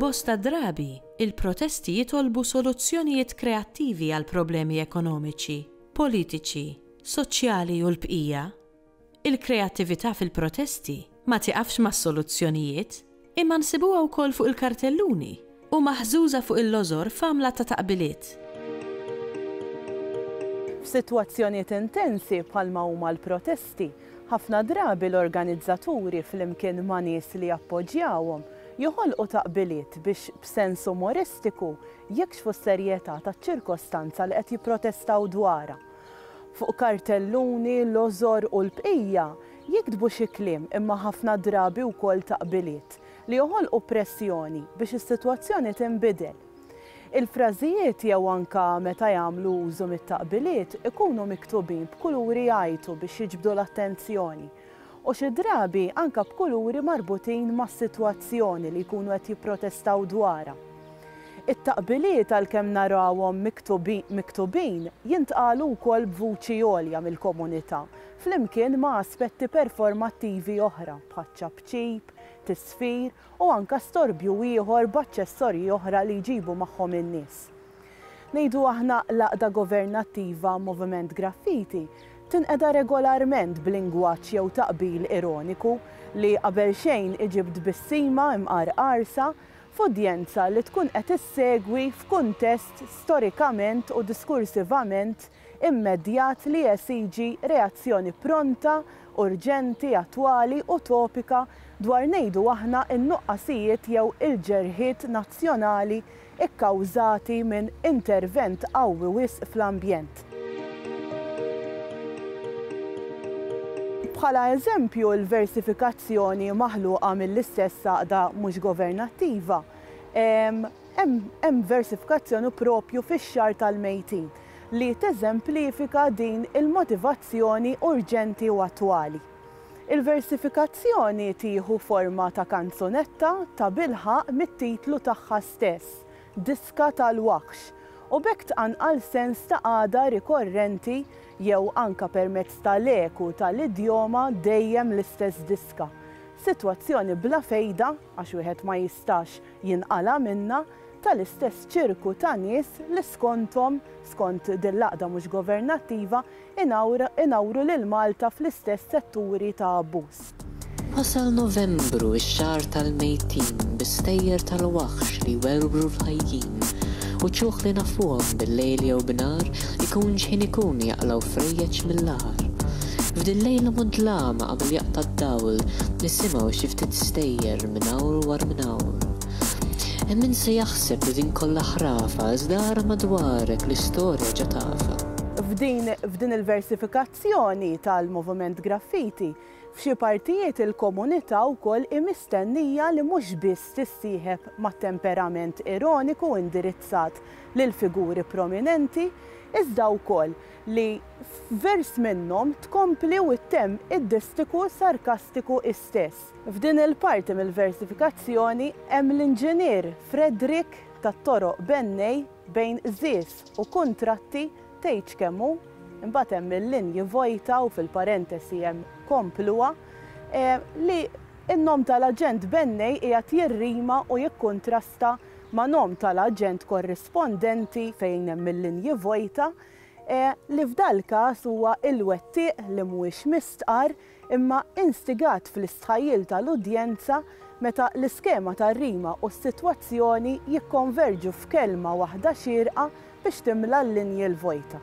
Bosta drabi, il-protesti jitolbu soluzzjonijiet kreattivi għall-problemi ekonomiċi, politiċi, soċjali u l-bqija, Il-kreattività fil-protesti ma tieqafx mas-soluzzjonijiet, imma nsibuha wkoll fuq il-kartelluni u maħżuża fuq il-lożor f'għamla ta' taqbiliet. F'sitwazzjonijiet intensi bħalma huma l-protesti, ħafna drabi l-organizzaturi flimkien ma' nies li jappoġġjawhom joħolqu taqbiliet biex b'sens umoristiku jikxfu s-serjetà taċ-ċirkostanza li qed jipprotestaw dwarha. Fuq kartelluni, lożor u l-bqija jiktbu xi kliem imma ħafna drabi wkoll taqbiliet li joħolqu pressjoni biex is-sitwazzjoni tinbidel. Il-frażijiet jew anke meta jagħmlu użu mit-taqbiliet ikunu miktubin b'kuluri jgħajtu biex jiġbdu l-attenzjoni u xi drabi anke b'kuluri marbutin mas-sitwazzjoni li jkunu qed jipprotestaw dwarha. It-taqbiliet għalkemm narawhom miktubin jintqalu wkoll b'vuċi għolja mill-komunità flimkien ma' aspetti performattivi oħra bħaċ-ċapċip, tisfir u anke storbju ieħor b'aċċessorji oħra li jġibu magħhom in-nies. Ngħidu aħna l-għaqda governattiva Moviment Graffiti tinqeda regolarment b'lingwaġġ jew taqbil ironiku li qabel xejn iġib tbissima imqarqarsa f'udjenza li tkun qed issegwi f'kuntest storikament u diskursivament immedjat li jesiġi reazzjoni pronta, urġenti, attwali u topika dwar ngħidu aħna n-nuqqasijiet jew il-ġerħiet nazzjonali kkawżati minn intervent qawwi wisq fl-ambjent. Bħala eżempju, il-versifikazzjoni maħluqa mill-istess għaqda mhux governattiva, Hemm versifikazzjoni proprju fix-Xahar tal-Mejtin li teżemplifika din il-motivazzjoni urġenti u attwali. Il-versifikazzjoni tieħu forma ta' kanzunetta tabilħaqq mit-titlu tagħha stess, Diska tal-Waħx, u b'hekk tqanqal sens ta' qagħda rikorrenti jew anke permezz ta' l-eku ta' l-idjoma dejjem l-istess diska, sitwazzjoni bla fejda, Għax wieħed ma jistax jinqala' minnha, tal-istess ċirku ta' nies li skonthom, skont din l-għaqda mhux governattiva, inawru lil Malta fl-istess setturi ta' abbuż. Wasal Novembru, ix-xahar tal-mejtin, bi stejjer tal-waħx li jwerwru l-ħajjin, u ċuħ li nafuhom bil-lejl jew b'nhar, Ikun x'ħin ikun jaqlgħu frejjeġ mill-għar. F'din lejla mudlama qabel jaqta' d-dawl nisimgħu xi ftit stejjer minn hawn u war minn hawn. Hemm min se jaħseb li din kollha ħrafa iżda ara madwarek l-istorja ġa tafha. F'din il-versifikazzjoni tal-Moviment Graffiti F'xi partijiet il-komunità wkoll hi mistennija li mhux biss tissieħeb mat-temperament ironiku indirizzat lil figuri prominenti, iżda wkoll li f'vers minnhom tkompli u ttemm id-distiku sarkastiku hi stess. F'din il-parti mill-versifikazzjoni hemm l-inġinier Frederick tat-toroq Benney bejn qżież u kuntratti Tgħidx kemm hu, imbagħad hemm il-linji vojta u fil-parentesi hemm kompluha, li n-nom tal-aġent Bennej qiegħed jirrima u jikkuntrasta ma' nom tal-aġent korrispondenti fejn hemm il-linji vojta, li f'dal-każ huwa il-wettieq li mhuwiex mistqarr imma instigat fl-istħajjil tal-udjenza meta l-iskema tar-rima u s-sitwazzjoni jikkonverġu f'kelma waħda xierqa biex timla l-linji l-vojta.